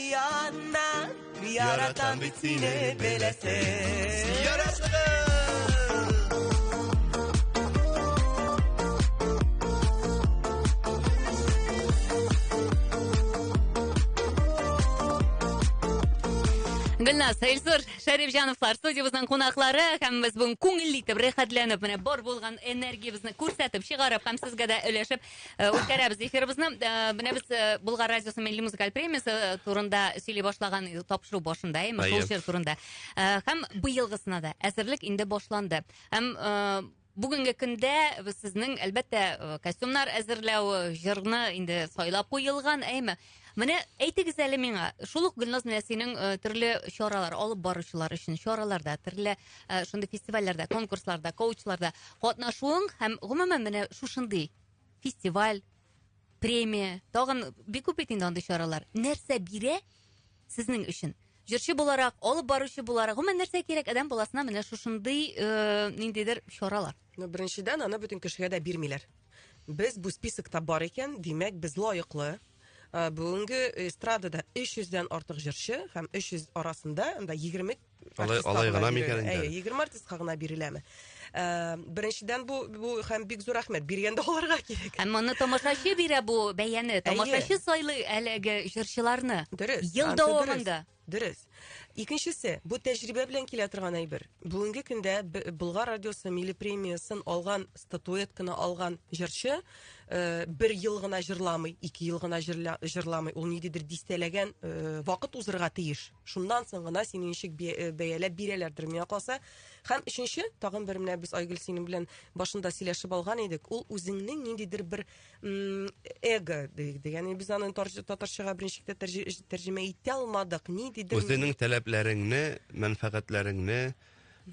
Speaker 1: Янна, яратам бит сине беләсең. Ярасыгыз! Гөлназ, Эльзур, Шәрифҗановлар студиябезнең кунаклары һәм без бүген күңелле итеп, рәхәтләнеп, менә бар булган энергиябезне күрсәтеп, чыгарып һәм сезгә дә өләшеп Э, үткәрәбез эфирыбызны э, менә без э, булгар радиосы милли музыкаль премиясе турында сөйли башлаган тапшыру башында әйме шул җыр турында һәм быелгысына да әзерлек инде башланды һәм бүгенге көндә сезнең әлбәттә костюмнар әзерләү җырны инде сайлап куелган әйме Менә әйтегез әле миңа, шул ук Гөлназ Нәсинең э, төрле чаралар алып баручылар өчен чараларда, төрле э, шундый фестивальләрдә, конкурсларда, коучларда катнашуың һәм гомумән менә шушындый фестиваль, премия, тагын бик күп бит инде андый чаралар. Нәрсә бирә? Сезнең өчен җырчы буларак, алып баручы буларак, гомумән нәрсә кирәк адәм баласына менә шушындый э, ниндидер чаралар? Ну, беренчедән, аны бөтен кешегә дә бирмиләр. Без бу списокта бар икән, димәк, без лаеклы. Э, Бүгенге эстрадада 300 дән артык җырчы һәм 300 арасында анда 20 Алай, алай гына микән инде? Әйе, 20 артистка гына биреләме? Э, беренчедән бу бу һәм бик зур рәхмәт биргәндә аларга кирәк. Һәм моны тамашачы бирә бу бәяне. Тамашачы сайлый әлеге җырчыларны. Дөрес. Ел дәвамында. Дөрес. Икенчесе, бу тәҗрибә белән килә торган әйбер. Бүгенге көндә Болгар радиосы милли премиясын алган, статуэтканы алган җырчы э, бер ел гына җырламый, ике ел гына җырламый. Ул ниндидер дистәләгән э, вакыт узырга тиеш. Шуннан соң гына сине ничек э, бәяләп бирәләрдер миңа калса. Һәм өченче, тагын бер менә без Айгөл синең белән башында сөйләшеп алган идек. Ул үзеңнең ниндидер бер эго диде. Ягъни без аны татарчага беренче китә тәрҗемә итә алмадык. Ниндидер Үзеңнең таләпләреңне, мәнфәгатьләреңне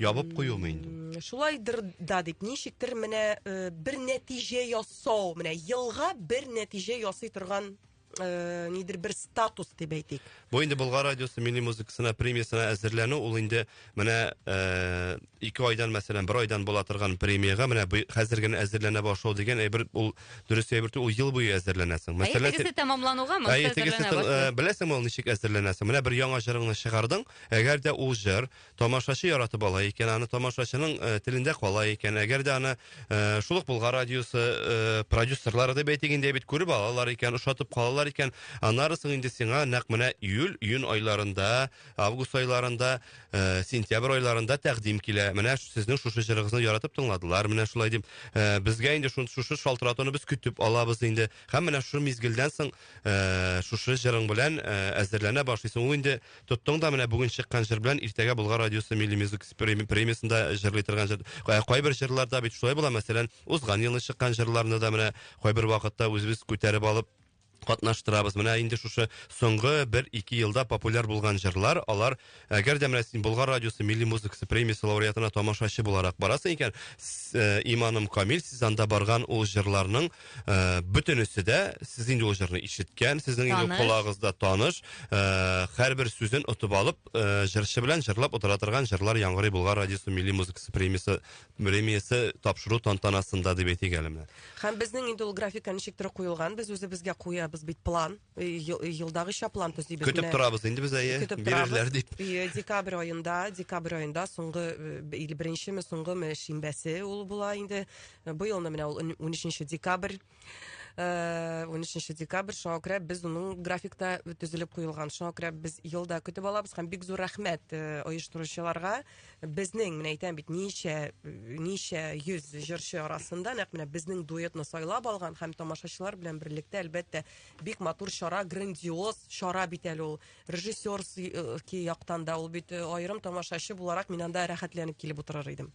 Speaker 1: ябып куюмы инде? Шулайдыр да дип, ничектер менә э, бер нәтиҗә ясау, менә елга бер нәтиҗә ясый торган э, нидер бер статус дип әйтик. Бу инде Болгар радиосы милли музыкасына премиясына әзерләнү, ул инде менә э, ике айдан, мәсәлән, бер айдан була торган премиягә менә бу- хәзер генә әзерләнә башлау дигән әйбер ул дөрес әйбер түгел, ул ел буе әзерләнәсең. Ә Мәсәлән, итегесе тәмамлануга монысы Әй, тегесе әзерләнә тыл- башлый. э, беләсеңме ул ничек әзерләнәсең? Менә бер яңа җырыңны чыгардың, әгәр дә ул җыр Тамашачы яратып ала икән аны, тамашачының э, телендә кала икән, әгәр дә аны э, шул ук Болгар радиосы э, продюсерлары дип әйтик инде бит күреп алалар икән, ошатып калалар икән, аннары соң инде сиңа нәкъ менә июль, июнь айларында, август айларында, э, сентябрь айларында тәкъдим килә. Менә ш- сезнең шушы җырыгызны яратып тыңладылар, менә шулай дип. Э, безгә инде шун шушы шалтыратуны без көтеп алабыз инде. Һәм менә шушы мизгелдән соң э, шушы җырың белән э, әзерләнә башлыйсың. Ул инде тоттың да менә бүген чыккан җыр белән иртәгә Болгар радиосы Милли музыка премиясендә җырлый торган җыр. Кайбер җырларда бит шулай була, мәсәлән, узган елны чыккан җырларны да менә кайбер вакытта үзебез күтәреп алып катнаштырабыз. Менә инде шушы соңгы бер ике елда популяр булган җырлар, алар әгәр дә менә син Болгар радиосы милли музыкасы премиясе лауреатына тамашачы буларак барасың икән, э, иманым камил, сез анда барган ул җырларның Ә, бөтенесе дә сез инде ул җырны ишеткән, сезнең инде Таныш. колагыгызда таныш, ә, һәрбер сүзен отып алып, ә, җырчы белән җырлап утыра торган җырлар яңгырый Болгар радиосы милли музыкасы премиясе премиясе тапшыру тантанасында дип әйтик әле менә. Һәм безнең инде ул графика ничектер куелган, без үзебезгә куябыз бит план. елдагыча план төзибез. Көтеп торабыз инде без әйе, бирерләр дип. Декабрь аенда, декабрь аенда соңгы или беренчеме, соңгымы шимбәсе ул була инде. Быелны менә ул 13 декабрь. 13 декабрь шуңа күрә без уның графикта төзелеп куелган. Шуңа күрә без елда көтеп алабыз һәм бик зур рәхмәт оештыручыларга. Безнең, менә әйтәм бит, ничә ничә йөз җырчы арасында нәкъ менә безнең дуэтны сайлап алган һәм тамашачылар белән берлектә, әлбәттә, Бик матур чара, грандиоз чара бит әле ул. Режиссер ки яктан да ул бит э, аерым тамашачы буларак мин анда рәхәтләнеп килеп утырыр идем.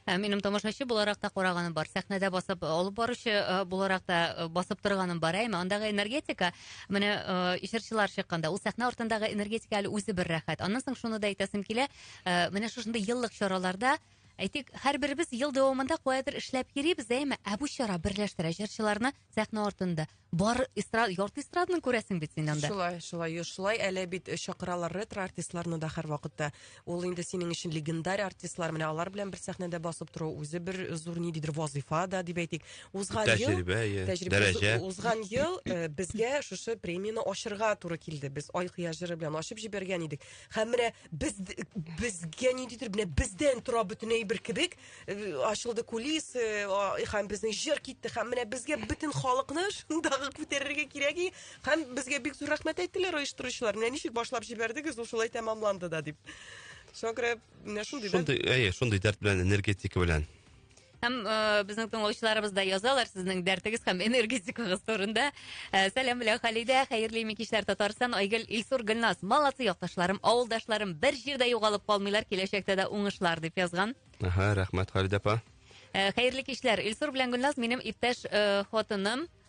Speaker 1: Ә минем тамашачы буларак та караганым бар. Сәхнәдә басып э, алып баручы э, буларак та басып торганым бар. Әйме, андагы энергетика, менә ишерчылар чыкканда, ул сәхнә артындагы энергетика әле үзе бер рәхәт. Аннан соң шуны да әйтәсем килә, менә шушындый еллык чараларда Әйтик, һәрберебез ел дәвамында каядыр эшләп йөрибез, әйме? Ә бу чара берләштерә җырчыларны сәхнә артында. Бар эстрад, ярты эстраданы күрәсең бит син анда. Шулай, шулай, шулай әле бит э, чакыралар ретро артистларны да һәрвакытта. Ул инде синең өчен легендарь артистлар, менә алар белән бер сәхнәдә басып тору үзе бер зур ниндидер вазыйфа да дип әйтик. Узган ел Тәҗрибә, иә. тәҗрибә Дәрәҗә. уз- узган ел э, безгә шушы премияне ачырга туры килде. Без Ай кыя җыры белән ачып җибәргән идек. Һәм менә без безгә ниндидер менә бездән тора бөтен әйбер кебек э, ачылды кулис э, һәм безнең җыр китте һәм менә безгә бөтен халыкны шундагы күтәрергә кирәк һәм безгә бик зур рәхмәт әйттеләр оештыручылар менә ничек башлап җибәрдегез ул шулай тәмамланды да дип шуңа күрә менә шундый шундый әйе шундый дәрт белән энергетика белән Һәм э, безнең тыңлаучыларыбыз да язалар сезнең дәртегез һәм энергетикагыз турында. Э, сәлам белән Халидә, хәерле ими кичләр Татарстан, Айгөл, Илсур, Гөлназ, молодцы якташларым, авылдашларым, бер җирдә югалып калмыйлар, киләчәктә дә уңышлар дип язган. Аха, рәхмәт Халидә апа. Э, хәерле кичләр. Илсур белән Гөлназ минем иптәш э, хатыным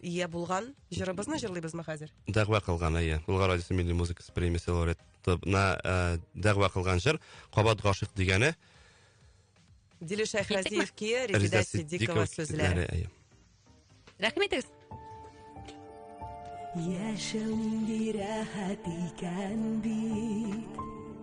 Speaker 1: ия булган җырыбызны җырлыйбызмы хәзер? Дәгъва кылган, әйе. Болгар радиосы милли музыкасы премиясе лауреатына ә, дәгъва кылган җыр Кабат гашык дигәне. Диле Шәйхразиев кие, Резеда Сиддикова сүзләре. Әйе. Рәхмәт итегез. Яшәү нинди рәхәт икән бит.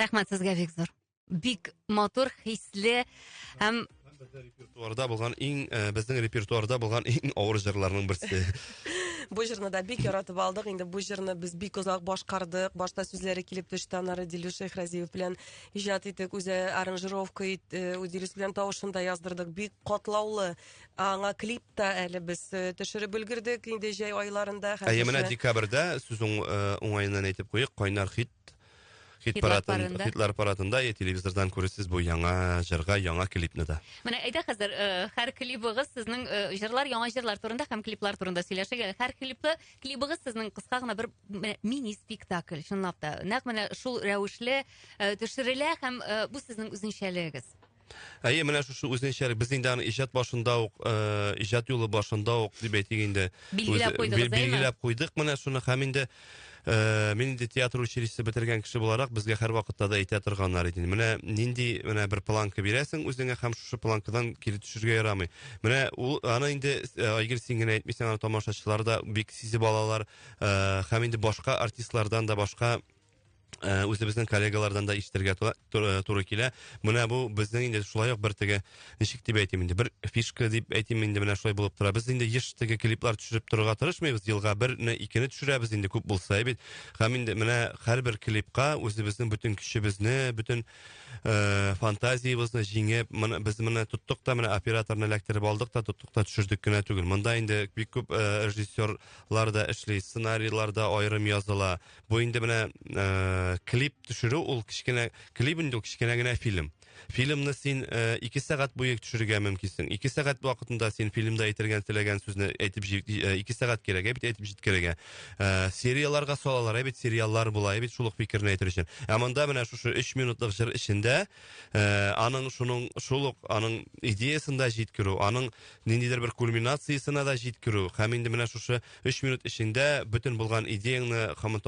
Speaker 1: рәхмәт сезгә бик зур бик матур хисле һәм репертуарда булган иң э, безнең репертуарда булган иң авыр җырларның берсе бу җырны да бик яратып алдык инде бу җырны без бик озак башкардык башта сүзләре килеп төште аннары дилүш шәйхразиев белән иҗат иттек, үзе аранжировка ит, э, үзебез белән тавышын да яздырдык. Бик катлаулы. Аңа клип та әле без э, төшереп өлгердек инде җәй айларында. Әйе, менә хәзерше. декабрьдә сүз уң- э, уңаеннан әйтеп куйыйк, кайнар хит хит Хитлар паратын, парында. хитлар паратында е, телевизордан күресез бу яңа җырга, яңа клипны да. Менә әйдә хәзер э, һәр клибыгыз сезнең э, җырлар, яңа җырлар турында һәм клиплар турында сөйләшик. әле. Һәр клипта клибыгыз сезнең кыска гына бер менә мини спектакль, чынлап та. Нәкъ менә шул рәвешле э, төшерелә һәм э, бу сезнең үзенчәлегегез. Әйе, менә шушы үзенчәлек без инде аны иҗат башында ук, э, иҗат юлы башында ук дип әйтик инде. Билгеләп куйдыгыз, әйме? Билгеләп куйдык менә шуны һәм инде Э, мин инде театр училище бетергән кеше буларак безгә һәр вакытта да әйтә торганнар иде менә нинди менә бер планка бирәсең үзеңә һәм шушы планкадан кире төшергә ярамый менә ул аны инде э, айгер син генә әйтмисең аны тамашачылар да бик сизеп алалар э, һәм инде башка артистлардан да башка Э, үзебезнең коллегалардан да ишетергә туры килә. Менә бу безнең инде шулай ук бер теге ничек дип әйтим инде бер фишка дип әйтим инде менә шулай булып тора. Без инде еш теге клиплар төшереп торырга тырышмыйбыз. Елга берне, икене төшерәбез инде күп булса бит. Һәм инде менә һәрбер клипка үзебезнең бөтен көчебезне, бөтен э, фантазиябезне җиңеп, менә без менә тоттык та менә операторны эләктереп алдык та тоттык та төшердек кенә түгел. Монда инде бик күп э, режиссерлар да эшли, сценарийлар да аерым языла. Бу инде менә э, клип төшерү ул кечкенә клип инде ул кечкенә генә фильм. Фильмны син э, ике сәгать буе төшерергә мөмкинсең. Ике сәгать вакытында син фильмда әйтергән теләгән сүзне әйтеп җи- э, ике сәгать кирәк ә бит әйтеп җиткерергә. Э, серияларга салалар ә бит сериаллар була ә бит шул ук фикерне әйтер өчен. Ә монда менә шушы 3 минутлык җыр эчендә э, аның шуның шул ук аның идеясында җиткерү, аның ниндидер бер кульминациясенә дә җиткерү һәм инде менә шушы Өч минут эчендә бөтен булган идеяңны, һәм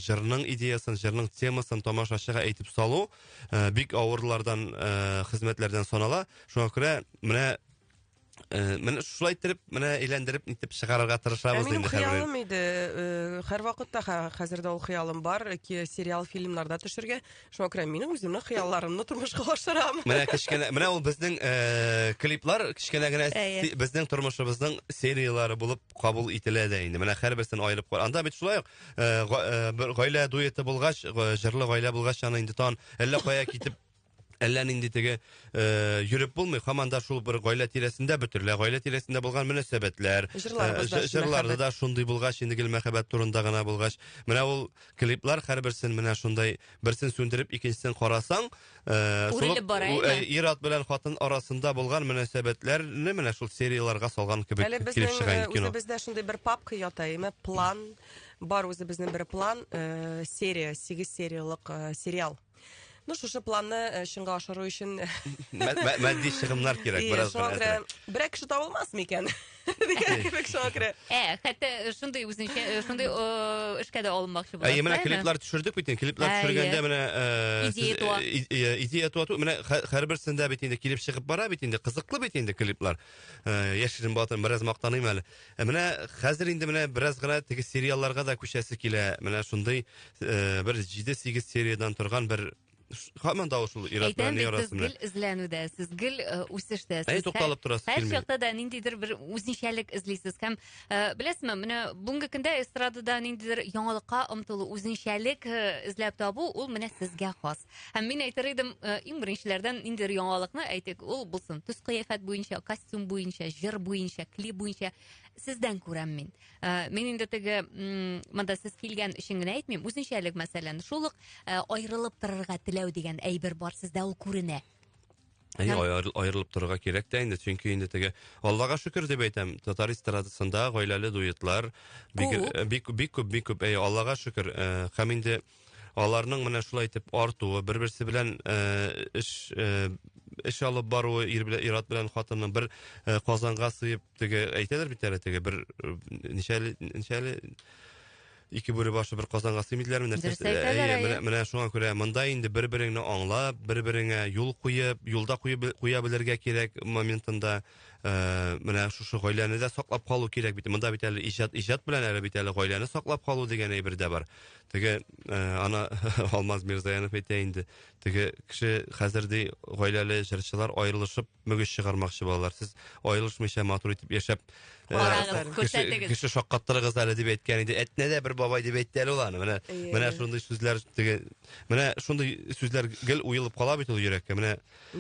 Speaker 1: җырның идеясын, җырның темасын тамашачыга әйтеп салу э, бик авырлардан э, хезмәтләрдән санала. Шуңа күрә менә Э, менә шулай иттереп менә әйләндереп нитеп чыгарырга тырышабыз ә инде хыялым иде э, һәрвакытта хәзер дә ул хыялым бар сериал фильмнарда төшергә Шуңа күрә мин үземнең хыялларымны тормышка ашырам. Менә кечкенә, менә ул безнең э, клиплар кечкенә генә Әйе. си- безнең тормышыбызның сериялары булып кабул ителә дә инде. Менә һәрберсен аерып кар. Анда бит шулай ук э, га- э, бер гаилә дуэты булгач, га- җырлы гаилә булгач, аны инде тан әллә кая китеп Әллә нинди теге э, йөреп булмый, һаман да шул бер гаилә тирәсендә бөтерелә. Гаилә тирәсендә булган мөнәсәбәтләр, Җырларыбыз э, да жы- шул җырларда мәхәббәт. да шундый булгач, инде гел мәхәббәт турында гына булгач. Менә ул клиплар һәрберсен менә шундай берсен сүндереп икенчесен карасаң э, үрелеп бара э, ир ат белән хатын арасында булган мөнәсәбәтләрне менә шул серияларга салган кебек әле безнең э, үзебездә шундый бер папка ята име план бар үзебезнең бер план серия сигез сериялык сериал Ну, шушы планны э, чынга ашыру өчен Матди чыгымнар кирәк Ие, бераз шуңа күрә берәр кеше табылмас микән? Дигән кебек шуңа күрә. Ә, хәтта э, шундый үзенчә, э, шундый э, эшкә дә алынмакчы буласыз. Әйе, менә клиплар төшердек бит инде. Клиплар Әйе. төшергәндә менә э, Идея сез- туа. и- и- идея туа ту- Менә хә- һәрберсендә бит инде килеп чыгып бара бит инде. Кызыклы бит инде клиплар. Э, Яшерен батыр, бераз мактаныйм әле. Ә менә хәзер инде менә бераз гына теге сериалларга да күчәсе килә. Менә шундый э, бер 7-8 сериядән торган бер һаман да шул Ират белән Әйтәм бит, сез гел эзләнүдә, сез гел э, үсештә. Әй, тукталып торасы Һәр килми. чакта да ниндидер бер үзенчәлек эзлисез. Һәм э, беләсезме, менә бүгенге көндә эстрадада ниндидер яңалыкка омтылу, үзенчәлек э, эзләп табу, ул менә сезгә хас. Һәм мин әйтер идем, э, иң беренчеләрдән ниндидер яңалыкны әйтик, ул булсын. Төс кыяфәт буенча, костюм буенча, җыр буенча, клип буенча сездән күрәм мин. Э, мин инде теге монда сез килгән өчен генә әйтмим, үзенчәлек мәсәлән, шул ук э, аерылып торырга теләү дигән әйбер бар сездә, ул күренә. Әй, Һәм- аер- аерылып торырга кирәк тә инде, чөнки инде теге Аллага шөкер дип әйтәм, татар эстрадасында гаиләле дуэтлар бик Күп. э, бик бик күп, бик күп. Әй, Аллага шөкер. э, Һәм инде аларның менә шулай итеп артуы, бер-берсе белән э, эш э, эш алып баруы, ир белән ир-ат белән хатынның бер э, казанга сыеп теге әйтәләр бит әле теге бер э, ничәле ничәле Ике бүре башы бер казанга сыймый диләрме нәрсә? Дөрес әйтәләр, Әйе, әйе. менә, менә шуңа күрә монда инде бер-береңне аңлап, бер-береңә юл куеп, юлда куеп бел- куя белергә кирәк моментында. Э, менә шушы гаиләне дә саклап калу кирәк бит. Монда бит әле иҗат, иҗат белән әле бит әле гаиләне саклап калу дигән әйбер дә бар. Теге, э, ана Алмаз Мирзаянов әйтә инде, теге кеше хәзер ди гаиләле җырчылар аерылышып мөгез чыгармакчы балалар сез аерылышмыйча матур итеп яшәп э, күрсәтегез кеше шаккаттырыгыз әле дип әйткән иде әтнә дә бер бабай дип әйтте әле ул аны менә э. менә шундый сүзләр теге менә шундый сүзләр гел уелып кала бит ул йөрәккә менә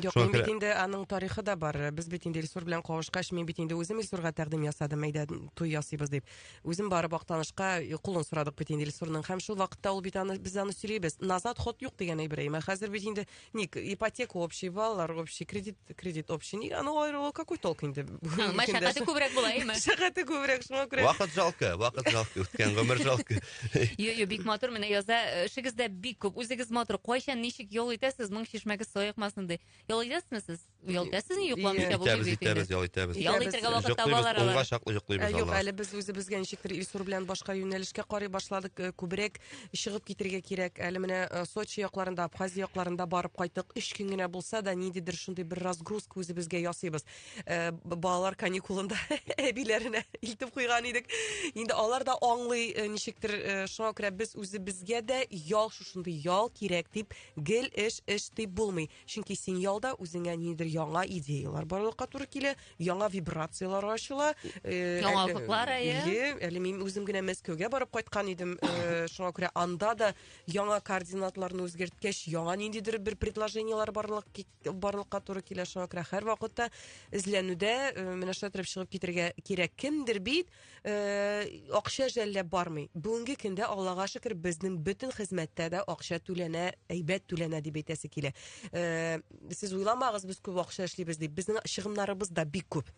Speaker 1: юк мин бит инде аның тарихы да бар без бит инде илсур белән кавышкач мин бит инде үзем илсурга тәкъдим ясадым әйдә туй ясыйбыз дип үзем барып актанышка кулын сорадык бит инде илсурның һәм шул вакытта ул бит аны без аны сөйлибез назад ход юк дигән әйбер әмма хәзер бит инде Ник, ипотека общий, балалар общий, кредит, кредит общий. Ник, анау аерылу какой толк инде? Ә, Мәшәкате күбрәк була, әйме? Мәшәкате күбрәк, шуңа күрә. Вакыт жалко, вакыт жалко, үткән гомер жалко. Йо, йо, бик матур менә яза. Эшегездә бик күп. Үзегез матур. Кайчан ничек ял итәсез? Моң чишмәгез саекмасын ди. Ял итәсезме сез? Ял итәсезме, йокламыйча бу Итәбез, итәбез, ял итәбез. Ял итәргә вакыт таба Йоклыйбыз, алар унга алар. чаклы Ә, йоклыйбыз Юк, алар. әле без үзебезгә ничектер Илсур белән башка юнәлешкә карый башладык. Э, Күбрәк чыгып китергә кирәк. Әле менә э, Сочи якларында, Абхазия якларында барып кайттык. Өч көн генә булса да, ниндидер шундый бер разгрузка үзебезгә ясыйбыз. Э, б- Балалар каникулында әбиләренә илтеп куйган идек. Инде алар да аңлый э, ничектер. э, Шуңа күрә без үзебезгә дә ял шушындый ял кирәк дип, гел эш, эш дип булмый. Чөнки син ялда үзеңә нидер яңа идеялар барлыкка туры килә, яңа вибрацияләр ачыла. Э, яңа офыклар әйе. Әле мин үзем генә Мәскәүгә барып кайткан идем. Э, шуңа күрә анда да яңа координатларны үзгәрткәч, яңа ниндидер бер предложениеләр барлык барлыкка туры килә. Шуңа күрә һәр вакытта эзләнүдә э, менә шулай чыгып китергә кирәк. Кемдер бит Э, акча жәлләп бармый бүгенге көндә аллага шөкер безнең бөтен хезмәттә дә акча түләнә әйбәт түләнә дип әйтәсе килә э, сез уйламагыз без күп акча эшлибез дип безнең чыгымнарыбыз да бик күп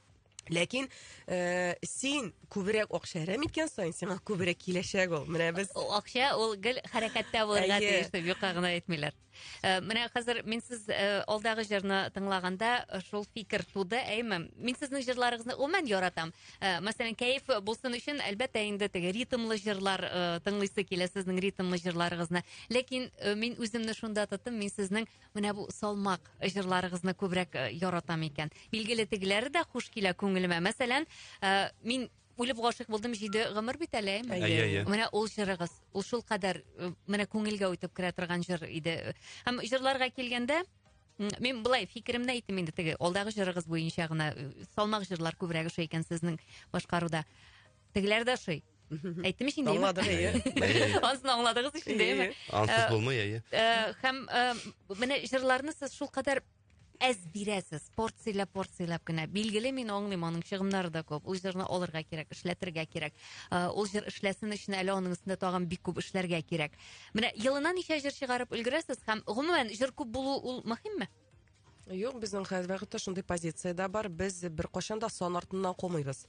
Speaker 1: ләкин э, син күбрәк акча әрәм иткән саен сиңа күбрәк киләчәк ул менә без акча ул гел хәрәкәттә булырга тиеш дип юкка гына әйтмиләр Э, менә хәзер мин сез э, алдагы җырны тыңлаганда э, шул фикер туды әйме мин сезнең җырларыгызны гомумән яратам мәсәлән кәеф булсын өчен әлбәттә инде теге ритмлы җырлар тыңлыйсы килә сезнең ритмлы җырларыгызны ләкин мин үземне шунда тоттым мин сезнең менә бу салмак җырларыгызны күбрәк яратам икән билгеле тегеләре дә хуш килә күңелемә мәсәлән мин үлеп гашыйк булдым җиде гомер бит әле әйеме Әйе, әйе. менә ул җырыгыз ул шулкадәр э, менә күңелгә үтеп керә торган җыр иде һәм җырларга килгәндә м, мин былай фикеремне әйтим инде теге алдагы җырыгыз буенча гына э, салмак җырлар күбрәк ошый икән сезнең башкаруда тегеләр дә ошый әйттем ич инде әйеме? Аңладык, әйе. Әйе. ансын аңладыгыз ич инде әйеме Ансыз Э, булмый, әйе. Э, һәм э, менә җырларны сез шулкадәр әз бирәсез порцияләп порцияләп кенә билгеле мин аңлыйм аның чыгымнары да күп ул җырны алырга кирәк эшләтергә кирәк э, ул җыр эшләсен өчен әле аның өстендә тагын бик күп эшләргә кирәк менә елына ничә җыр чыгарып өлгерәсез һәм гомумән җыр күп булу ул мөһимме юк безнең хәзер вакытта шундый позициядә бар без беркайчан да сан артыннан кумыйбыз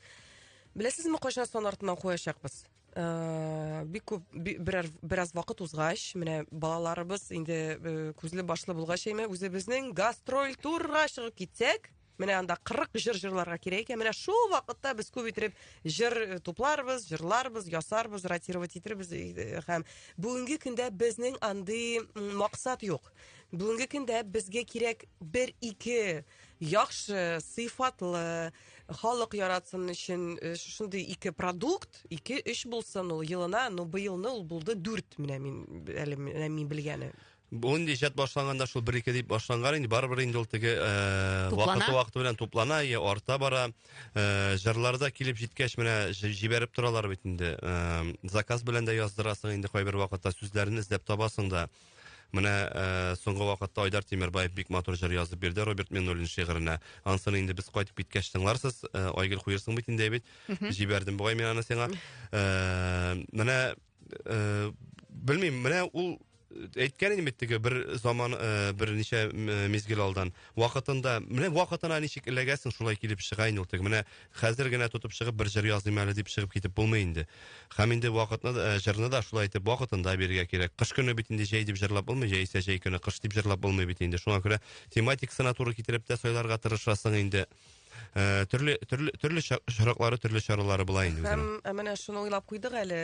Speaker 1: беләсезме кайчан сан артыннан куячакбыз Э, бик күп берәр бераз вакыт узгач менә балаларыбыз инде э, күзле башлы булгач әйме үзебезнең гастроль турга чыгып китсәк менә анда кырык җыр җырларга кирәк икән менә шул вакытта без күп иттереп җыр э, тупларбыз җырларбыз ясарбыз ротировать итәрбез э, һәм бүгенге көндә безнең андый максат юк бүгенге көндә безгә кирәк бер ике яхшы сыйфатлы халык яратсын өчен э, шушындый ике продукт ике өч булсын ул елына ну быелны ул булды дүрт менә мин әле менә мин белгәне Бу инде иҗат башланганда шул бер ике дип башланган инде барыбер инде ул теге э, вакыты вакыты белән туплана я арта бара э, җырларда килеп җиткәч менә җибәреп торалар бит инде заказ белән дә яздырасың инде кайбер вакытта сүзләрен эзләп табасың да Менә ә, э, соңгы вакытта Айдар Тимербаев бик матур җыр язып бирде Роберт Миннуллин шигыренә. Ансын инде без кайтып киткәч тыңларсыз. Ә, э, Айгөл куерсың бит инде бит. Җибәрдем бугай мин аны сиңа. Ә, менә ә, белмим, менә ул әйткән идем бит теге бер заман ә, берничә мизгел алдан вакытында менә вакытына ничек эләгәсең шулай килеп чыга инде ул теге менә Хәзер генә тотып чыгып бер җыр языйм әле дип чыгып китеп булмый инде. Хәм инде вакытны да, э, җырны да шулай итеп вакытында бирергә кирәк. Кыш көне бит инде җәй дип җырлап булмый, җәйсә җәй көне кыш дип җырлап булмый бит инде. Шуңа күрә тематикасына туры китереп тә сайларга тырышасың инде. Э, төрле төрле төрле чараклары, төрле чаралары була инде. Һәм э, менә шуны уйлап куйдык әле,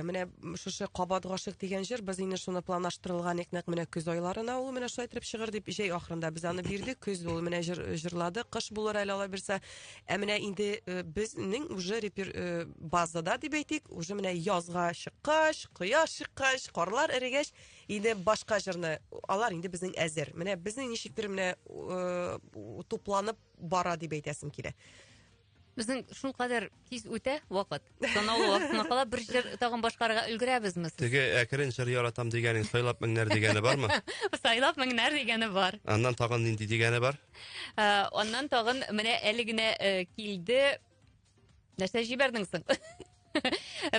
Speaker 1: менә шушы Кабат гашык дигән җыр без инде шуны планлаштырылган ик нәкъ менә көз айларына ул менә шулай итеп чыгыр дип җәй ахырында без аны бирдек. Көз ул менә җырладык. Кыш булыр әле алабирсә. Ә менә инде э, безнең уже репер э, базада дип әйтик, уже менә язга чыккач, кояш чыккач, карлар эрегәч, инде башка җырны алар инде безнең әзер. Менә безнең ничектер менә э, тупланып бара дип әйтәсем килә. Безнең шулкадәр тиз үтә вакыт. Санаулы вакытына кала бер җыр тагын башкарырга өлгерәбезме? сез? Теге әкрен җыр яратам дигәнең сайлап меңнәр дигәне бармы? Сайлап меңнәр дигәне бар. Аннан тагын нинди дигәне бар? Ә, Аннан тагын менә әле генә э, килде. Нәрсә җибәрдең соң?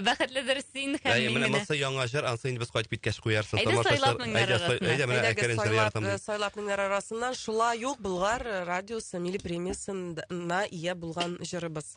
Speaker 1: Бәхетледер син һәм Әй, мин менә менә. монысы яңа җыр, ансы инде без кайтып киткәч куярсың. Әйдә, тамашачылар- сайлап меңнәр Әйдә, сай- арасына. Әйдә, менә Әйдәгез, әкрен җыр сайлап, яратам. э, сайлап меңнәр арасыннан шулай ук Болгар радиосы милли премиясенә ия булган җырыбыз.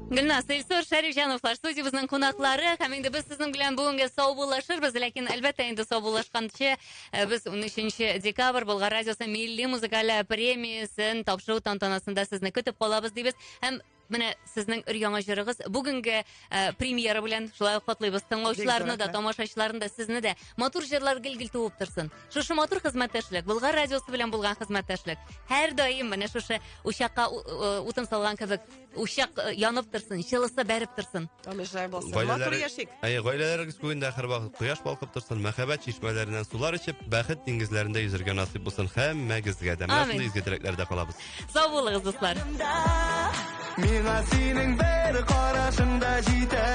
Speaker 1: Гөлназ, Илсур Шәрифҗановлар студиябезнең кунаклары һәм инде без сезнең белән бүгенгә саубуллашырбыз, ләкин әлбәттә инде саубуллашканчы э, без 13 декабрь Болгар радиосы милли музыкаль премиясен тапшыру тантанасында сезне көтеп калабыз дибез һәм менә сезнең өр-яңа җырыгыз бүгенге э, премьера белән шулай ук котлыйбыз. Тыңлаучыларны да, тамашачыларны да, сезне дә матур җырлар гел-гел туып торсын. Шушы матур хезмәттәшлек, Болгар радиосы белән булган хезмәттәшлек һәрдаим менә шушы учакка у- э, утын салган кебек Учак э, янып торсын, җылысы бәреп торсын. Амин, шулай булсын. Матур Гаиләләре- яшик. Әй, гаиләләрегез күгендә һәр вакыт кояш балкып торсын, мәхәббәт чишмәләреннән сулар эчеп, бәхет диңгезләрендә йөзәргә насыйп булсын һәммәгезгә дә. Менә Амин. шундый изге теләкләрдә калабыз. Сау булыгыз, дуслар. Миңа синең бер карашың да җитә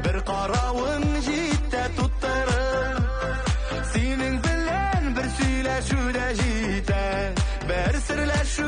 Speaker 1: Бер каравың җитә туттырыр Синең белән бер сөйләшү дә җитә Бер серләшү